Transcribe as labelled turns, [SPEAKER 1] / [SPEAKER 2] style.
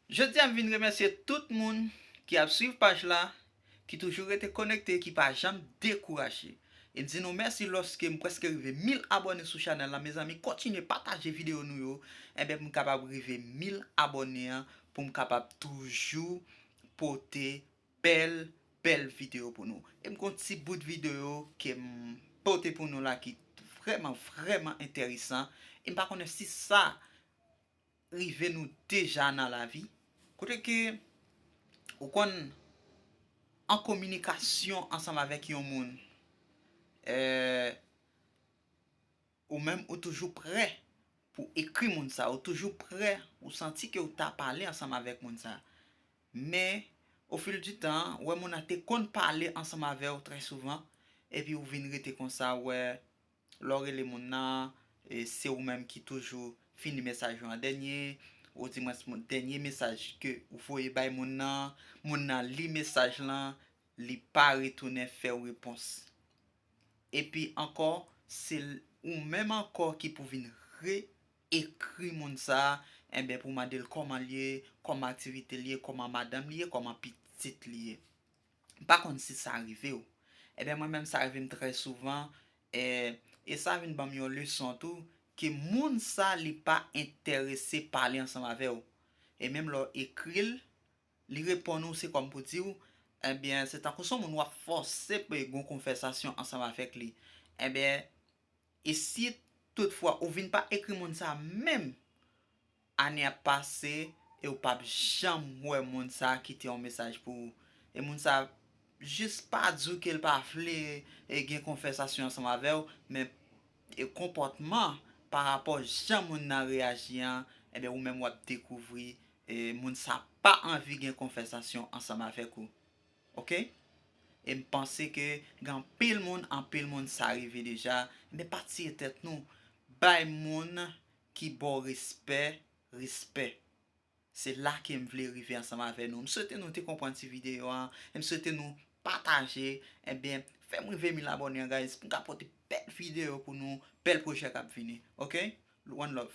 [SPEAKER 1] Jodi a m vin remèsye tout moun ki ap swiv paj la, ki toujou rete konekte, ki pa janm dekouraje. E di nou mèsi lòske m prèske rive 1000 abòne sou chanèl la mezanmi kontinye pataje videyo nou yo enben pou m kapab rive 1000 abòne an pou m kapab toujou pote bèl bèl videyo pou nou. E m gon ti bout videyo ke m pote pou nou la ki vrèman vrèman enteresan e m pa konnen si sa rive nou deja nan lavi, kote ke ou konn an kominikasyon ansanm avèk yon moun, ou menm ou toujou prè pou ekri moun sa, ou toujou prè, ou santi ke ou ta pale ansanm avèk moun sa. Men, o fil di tan, ou wè moun nan te konn pale ansanm avè ou trè souvan, epi ou vin rete konsa, ou wè, Lè w rele moun nan, se ou menm ki toujou fini mesaj ou an dènye, ou di mwens dènye mesaj ke ou voye bay moun nan, moun nan li mesaj lan, li pa retounen fè w repons. Epi ankò, se ou menm ankò ki pou vin re-ekri moun sa, enben pou w mande l kòman l ye, kòman aktivite l ye, kòman madanm li ye, kòman pitit li ye. M pa konn si sa rive w. Enben mwen menm sa rive m trè souvan e sa vin banm yon leson tou ke moun sa li pa entèrese pale ansanm avè w. E menm lè w ekri l, li reponn ou se kòm pou di w enben se tankou son moun w ap fòse pou gon konvèsasyon ansanm avèk li. Enben e si tout fwa ou vin pa ekri moun sa menm? Ane ap pase e ou pap janm wè moun sa kite yon mesaj pou ou. E moun sa jis pa di w ke l pa vle gen konvèsasyon ansanm avè w, men konpòtman pa rapò jan moun nan reyaji an, enben ou menm w ap dekouvri moun sa pa anvi gen konvèsasyon ansanm avèk ou. Ok? E m panse ke gen anpil moun, anpil moun sa rive deja, enben pa tiye tèt nou. Bay moun ki baw respè respè se la kem vle rive ansanm avè nou m swete nou te konprann ti video an e m swete nou pataje ebyen fèm rive 1000 abòne an guys poum ka pote bèl video pou nou bèl projè kap vini ok one love.